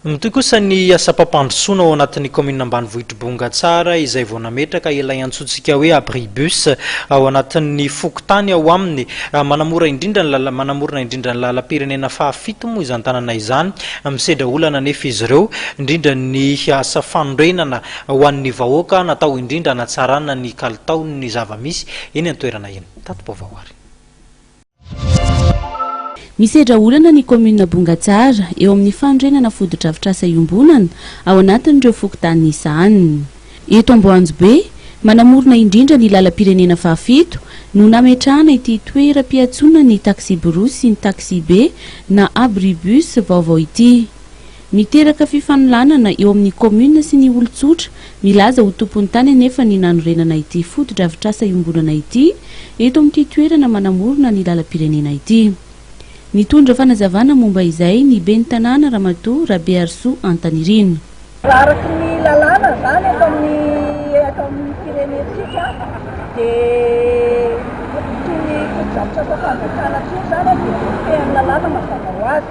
Mitohy kosa ny asam-pampandrosoana ao anatin'ny kaominina ambanivohitr'i Bongatsara izay vao nametraka ilay antsointsika hoe Abri Bus ao anatin'ny fokontany ao aminy. Manamora indrindra ny manamorona indrindra ny lalam-pirenena fahafito moa izany tanàna izany. Misedra olana anefa izy ireo, indrindra ny asa fanorenana ho an'ny vahoaka natao indrindra hanatsarana ny kalitaon'ny zava-misy eny an-toerana eny. Tati-baovao ary. Misedra olana ny kaominina Bongatsara eo amin'ny fanorenana fotodrafitrasa iombonana ao anatin'ireo fokontany izany. Eto Amboanjobe, manamorona indrindra ny lalam-pirenena fahafito, no nametrahana ity toeram-piantsonan'ny taksiborosy sy ny taksibe na abribus vaovao ity. Miteraka fifanolanana eo amin'ny kaominina sy ny olon-tsotra milaza ho tompon'ny tany anefa ny nanorenana ity fotodrafitrasa iombonana ity eto amin'ity toerana manamorona ny lalam-pirenena ity. Nitondra fanazavana momba izay ny ben'ny tanàna Ramatoa Rabeharisoa Antanirina. Raha araka ny lalàna izany eto amin'ny eto amin'ny firenentsika dia itony fotodrafitrasa fanjakana itony izany dia voafehin'ny lalàna mazava ho azy.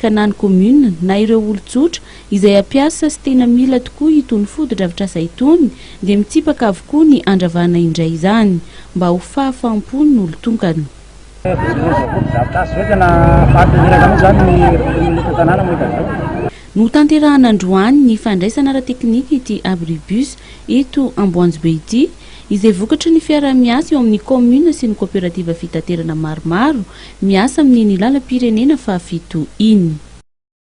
ka na ny commune na ireo olon-tsotra izay hampiasa sy tena mila tokoa itony fotodrafitrasa itony dia mitsipaka avokoa ny handravana indray izany mba ho fahafaham-pon'ny olon-tonkana. Notanterahana androany ny fandraisana ara-teknika ity Abribus eto Amboanjobe ity, izay vokatry ny fiaraha-miasa eo amin'ny kaominina sy ny kaoperativa fitaterana maromaro miasa amin'ny ny lalam-pirenena fahafito iny.